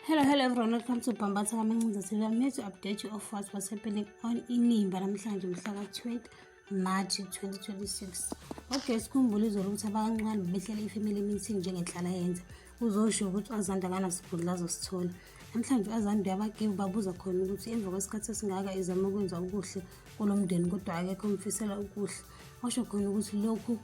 Hello, hello everyone. Welcome to Bambatha Kamancinza TV. I'm here to update you of what was happening on Inimba namhlanje mhla ka-20 March 2026. Okay, sikhumbule izolo ukuthi abakancane behlele i-family meeting njengenhlala yenza. Uzosho ukuthi uAzanda akanasigudla azosithola. Namhlanje uAzanda uyabagive babuza khona ukuthi emva kwesikhathi esingaka izama ukwenza okuhle kulo mndeni kodwa akekho umfisela okuhle. Washo khona ukuthi lokhu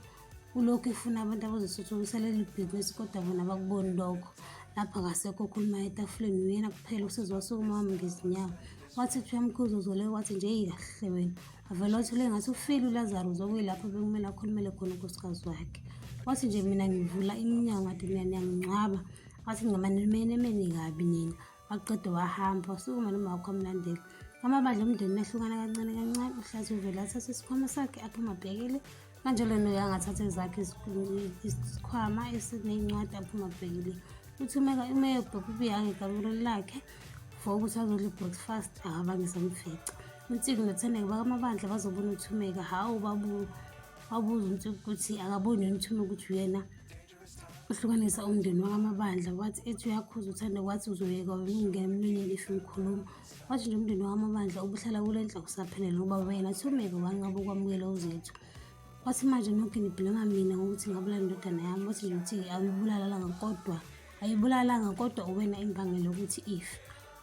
ulokhu ifuna abantu abazosuthukusa leli bhizinisi kodwa bona bakuboni lokho lapha kasekho okhuluma etafuleni uyena kuphela usizi wasukuma wami ngezinyawo wathi kuthiwa mkhuzi uzole wathi nje iyahle wena avele wathule ngathi ufile ulazaro uzokuyilapho bekumele akhulumele khona unkosikazi wakhe wathi nje mina ngivula iminyango ade mina niyangingcwaba wathi ngicamanimeni emeni kabi nina waqeda wahamba wasukuma nomawakho amlandela amabandla omndeni mehlukana kancane kancane uhlathi uvele athathe isikhwama sakhe aphuma abhekele kanjalo noyo angathatha ezakhe isikhwama esineyincwadi aphuma abhekele uthi umeka umeye ubheka ubuye angegamelo lakhe for ukuthi azodla i-breakfast akabangiza mfica unsiki nothandeke bakamabandla bazobona uthumeka hhawu babuza unsiki ukuthi akaboni yini uthumeka ukuthi uyena uhlukanisa umndeni wakamabandla wathi ethi uyakhuza uthanda kwathi uzoyeka wena ungena emlonyeni if ngikhuluma wathi nje umndeni wakamabandla ubuhlala kule ndla kusaphelele ubaba yena thumeke wanqaba ukwamukela uzethu wathi manje nonke nibhilema mina ngokuthi ngabulala indodana yami wathi nje ukuthi ayibulalanga kodwa ayibulalanga kodwa uwena imbangela yokuthi if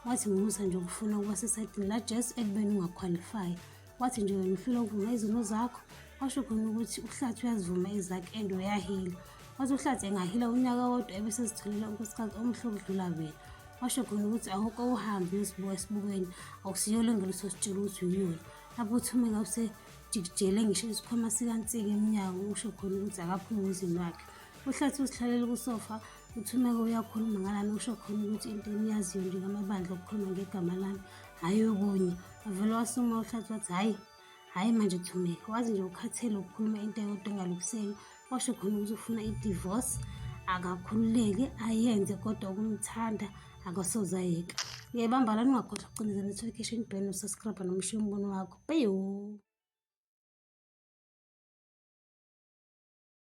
wathi ngumusa nje ukufuna ukuba sesayidini lajesu ekubeni ungakhwalifayi wathi nje uyangihlula ukuvuma izono zakho washo khona ukuthi uhlathi uyazivuma ezakhe and uyahila wathi uhlathi engahila unyaka wodwa ebesezitholela unkosikazi omuhle okudlula wena washo khona ukuthi awuke uhambe uyosibuka esibukweni akusiyolo ngeluso sitshela ukuthi uyiyona lapho uthumeka usejikijele ngisho isikhwama sikansika emnyango usho khona ukuthi akaphume emzini wakhe uhlathi usihlalela kusofa UThumeka uyakhuluma ngalana usho khona ukuthi into eniyaziyo nje ngamabandla okukhuluma ngegama lami hhayi okunye avele wasuma uhlathi wathi hhayi hhayi manje Thumeka wazi nje ukhathele ukukhuluma into eyodwa engalukuseki washo khona ukuthi ufuna idivorce akakhululeke ayenze kodwa ukumthanda akasoze ayeka uyayibamba la ningakhohlwa ukucindezela notification bell nosubscribe nomusho umbono wakho peyo